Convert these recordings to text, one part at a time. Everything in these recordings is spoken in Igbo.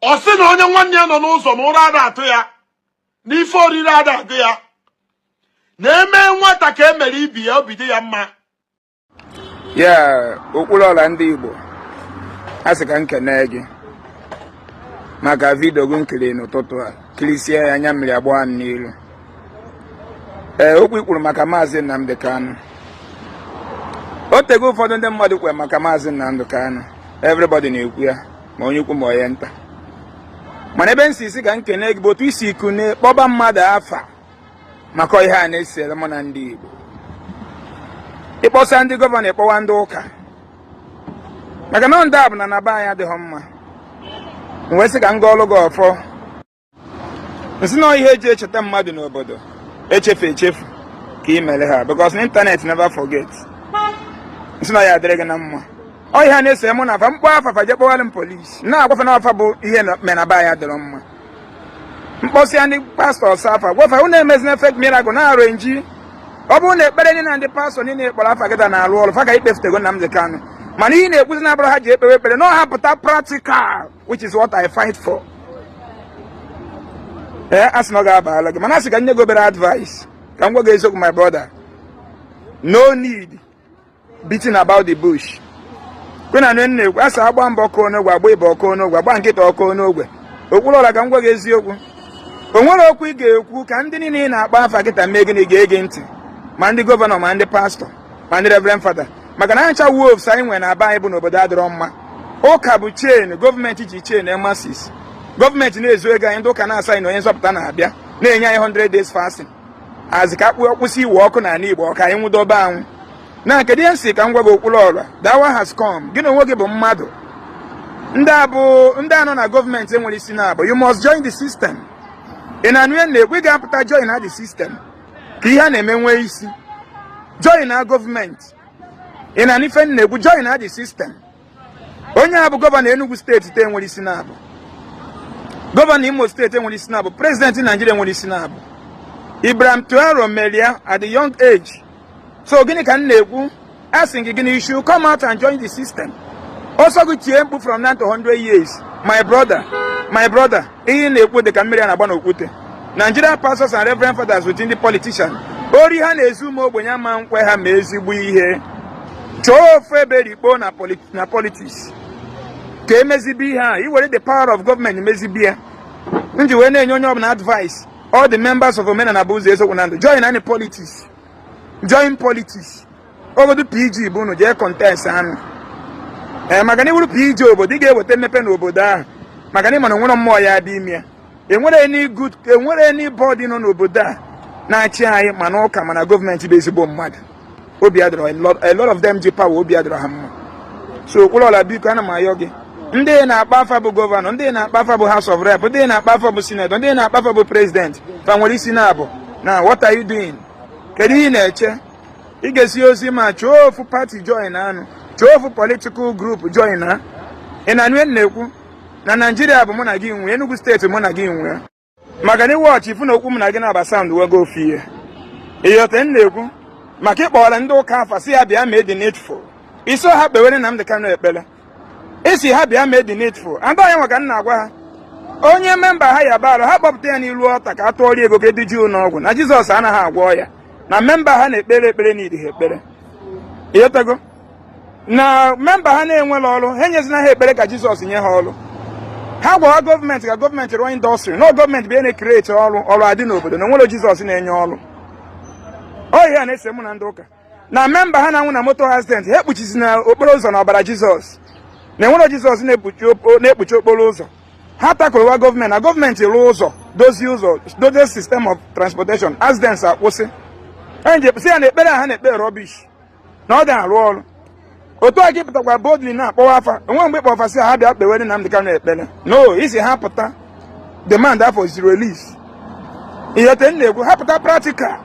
ọ sị na onye nwanne ya nọ n'ụzọ na ụra ada atụ ya n'ife oriri ada agụ ya na e mee nwata ka e mere ibe ya obi adị ya mma ya Okwuluora ndị Igbo a sị ka m kene gị maka vidio gị m kiri n'ụtụtụ a kirisie ya anya mmiri agba m n'ilu ee okwu i kwuru maka maazị Nnamdi Kanu o tego ụfọdụ ndị mmadụ kwuwere maka maazị Nnamdi Kanu everybody na-ekwu ya ma onye ukwu ma onye nta mana ebe m si sị ka m kene gị bụ otu i si kunie kpọba mmadụ afa maka ihe a na-esere mụ na ndị Igbo ị kpọsịa ndị gọvanọ ị kpọwa ndị ụka maka na ndị a bụ na na be anyị adịghị mma m wee sị ka m gọọlụ gị ọfọ m sị na ihe e ji echeta mmadụ n'obodo echefu echefu ka ị mere ha because internet never forget m sị na ya adịrị gị na mma ọ ihe a na-ese mụ na fa m kpọọ afa fa je kpọwara m polisi na-agwa fa na ọ fa bụ ihe mere na be anyị adịrọ mma m kpọsịa ndị pastọs afa gwa fa unu emezina fake miracle na arrangee ọ bụrụ na ekpere niile na ndị pastọ niile kpọrọ afa kịta na-arụ ọrụ fa ka-ekpefutego Nnamdi Kanu mana ihe m na-ekwuzi na ọ bụrọ ha je ekpewe ekpere na ọ ha pụta practical which is what I fight for ee eh, a sị na ọ ga-abala gị mana a sị ka m nye gị obere advice ka m gwa gị eziokwu my brother no need beating about the bush kwe na nne ekwe a sị agbaa mbụ ọ kụọ n'ogwe agbaa ịbụa ọ kụọ n'ogwe agbaa nke ịtọ ọ kụọ n'ogwe Okwuluora ka m gwa gị eziokwu o nwere okwu ị ga-ekwu ka ndị niile ị na-akpọ afa kịta mee gịnị gee gị ntị ma ndị gọvanọ ma ndị pastọ ma ndị reverend fada maka na ncha wolves anyị nwere na be anyị bụ n'obodo adịrọ mma ụka bụ chain gọọmenti ji chain the masses gọọmenti na-ezu ego anyị ndị ụka na-asị anyị na onye nzọpụta na-abịa na-enye anyị 100 days fasting a sị ka a kwụsị iwe ọkụ n'ala Igbo ọ ka anyị nwụdobe anwụ na kedu ihe m sị ka m gwa gị Okwuluora the hour has come gị na onwe gị bụ mmadụ ndị a bụ ndị a nọ na gọọmenti enwere isi naabọ you must join the system ị na-anụ ihe m na-ekwu ị ga-apụta join na the system ka ihe a na-eme nwee isi join na gọọmenti ị na-anụ ife m na-ekwu join na the system onye a bụ gọvanọ Enugu steeti enwere isi naabọ gọvanọ Imo steeti enwere isi naabọ prezidenti Naijiria nwere isi naabọ Ibrahim Traore mere ya at the young age so gịnị ka m na-ekwu a sị gị gịnị you should come out and join the system ọ sọ gị tie mkpu from now to 100 years my brother my brother ihe na-ekwu dị ka mmiri a na-agba n'okwute Nigerian pastors and reverend fathers within the politician ori ha na-ezu ụmụ ogbenye ama nkwe ha mee ezigbo ihe chọọ ofu ebe rikpo na politics ka e mezibe ihe a i were the power of government mezibe ya m ji wee na-enye onye ọbụla advice all the members of omenala bụ ụzọ eziokwu na ndụ join any politics join politics obodo pg bụ unu jee kọntestịa nụ ee eh, maka na ị wụrụ pg obodo ị ga-eweta mmepe n'obodo ahụ maka na ị ma na nwere mmụọ ya dị ime ya enwero enwero anybody nọ n'obodo a na-achị anyị ma na ụka ma na gọọmenti bụ ezigbo mmadụ obi adịrọ a lot of them ji power obi adịrọ ha mma so okwuluọra biko ana m ayọ gị ndị na-akpọ afa bụ gọvanọ ndị na-akpọ afa bụ house of rep ndị na-akpọ afa bụ sinetọ ndị na-akpọ afa bụ prezident fa nwere isi na-abụ na what are you doing kedu ihe ị na-eche ị ga-esi ozi ma chọọ ofu pati joina nụ chọọ ofu politikal grupu joina ị na-anụ ihe m na-ekwu na naijiria bụ mụ na gị nwe enugu steeti mụ na gị nwe maka na ị wọchị ị fụ na okwu m na gị naabọ sound wago ofu ihe ị ghọta ihe m na-ekwu maka ị kpọwara ndị ụka afa sị ha bịa mee the needful ị sịrọ ha kpewere Nnamdi Kanu ekpere ị sị ha bịa mee the needful and ọ ihe nwa ka m na-agwa ha onye memba ha yaba arụ ha kpọpụta ya n'ilu ọta ka a tụọrọ ego ka e duje ụlọ ọgwụ na jizọs anaghị agwọ ọya na memba ha na-ekpere ekpere na idi ha ekpere ị ghọtago na memba ha na-enwero ọrụ ha enyezina ha ekpere ka jizọs nye ha ọrụ ha gwawa gọọmenti ka gọọmenti rụọ indọstrị na gọọmenti bụ na-ekreti ọrụ ọrụ adị n'obodo na o nwero jizọs na-enye ọrụ ọ ihe a na-ese mụ na ndị ụka na memba ha na-anwụ na moto accident ha ekpuchizina okporo ụzọ na ọbara jizọs na enwero jizọs na-ekpuchi okporo ụzọ ha takụlụwa gọọmenti na gọọmenti rụọ ụzọ dozie ụzọ dozie system of transportation accidents akwụsị enyi si ya na ekpere ha na-ekpe rọbish na ọ da-arụ ọrụ otu a gị pụtakwa boldly na-akpọwa afa o nwero mgbe ị kpọ afa sị ha bịa kpewere Nnamdi Kanu ekpere no ị sị ha pụta demanda for his release ị ghọta ihe m na-ekwu ha pụta practical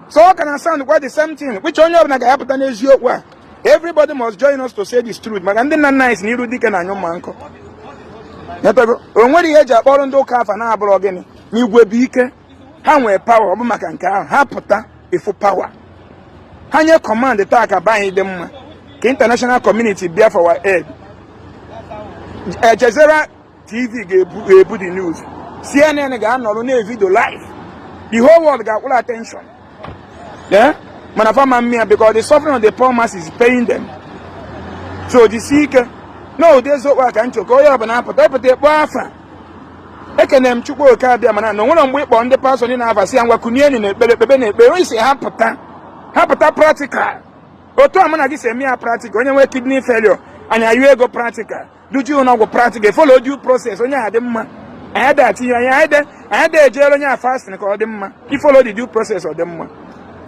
so ọ ka na sound kwa the same thing which onye ọbụla ga-apụta n'eziokwu a everybody must join us to say this truth maka ndị nna nna anyị sị na iru dike na-anyụ mma nkọ o nwero ihe e ji akpọrọ ndị ụka afa na-abụrọ gịnị na igwe bụ ike ha nwee pawa ọ bụ maka nke ahụ ha pụta ị fụ pawa ha nye kọmand taa ka be anyị dị mma ka international community bịa for our aid al jazeera tv ga-ebu the news cnn ga-anọrọ na-evidio live the whole world ga-akwụrụ attention eh? mana fa ama mme ya because the suffering of the poor mass is paying them so jisi ike na ụdị eziokwu a ka m chọ ka onye ọbụla apụta ị pụta ị kpọ afa ekene m chukwu okike abịama na o nwero mgbe ị kpọ ndị pastọ ndị nwa afa sị ha ngwa kunienụ na ekpere ekpebe na ekpere ị sị ha pụta ha pụta pratikal otu a mụ na gị si eme ya pratikal onye nwee kidney failure anyị ayọ ego pratikal duje ụnọ ọgwụ pratikal folo due process onye ahụ dị mma anyị da atinye anyị anyị de anyị de ejere onye a fastin ka ọ dị mma i folo the due process ọ dị mma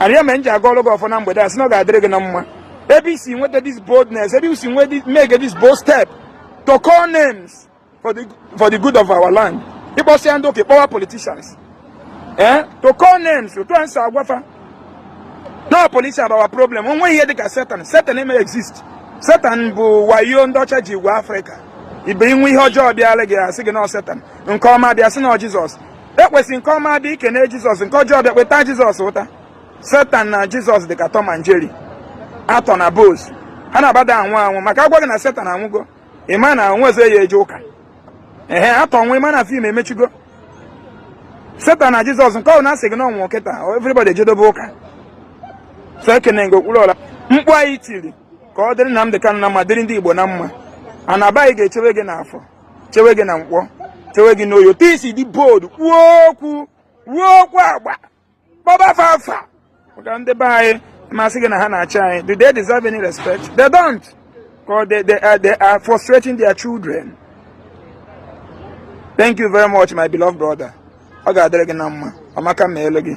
ọ ya mere m ji agọrọ gị ọfọ na mgbede a sị na ọ ga-adịrị gị na mma ebe i si nweta this boldness ebe i si nweta make this bold step to call names for the for the good of our land ịkpọsịa ndị oke power politicians eh to call names otu anyị si agwa fa na police are our problem onwe ihe dịka satan satan eme exist satan bụ wayo ndị ọcha ji egwu afrịka ibe inwe ihe ọjọọ bịara gị asị gị na satan nke ọma bịa asị na jizọs ekwesị nke ọma bịa ikene jizọs nke ọjọọ bịa kpeta jizọs ụta satan na jizọs dịka tom and jerry actor na boss ha na-abada anwụ anwụ maka agwa gị na satan anwụgo ị ma na onwezi ya eje ụka ehe actor nwụọ ịma na film emechigo satan na jizọs nke ọbụna asị gị na ọ nwụọ kịta everybody ejedobe ụka so ekene gị Okwuluọra mkpu anyị tiri ka ọ dịrị Nnamdi Kanu na mma dịrị ndị Igbo na mma a na-aba gị ga-echewe gị n'afọ chewe gị na nkwọ chewe gị n'oye but ị still dị bold kwuo okwu ruo okwu agba kpọba fa afa maka ndị be anyị ma asị gị na ha na-achị anyị do they deserve any respect they don't because they, they, are, they are frustrating their children thank you very much my beloved brother ọ ga-adịrị gị na mma ọmaka meelụ gị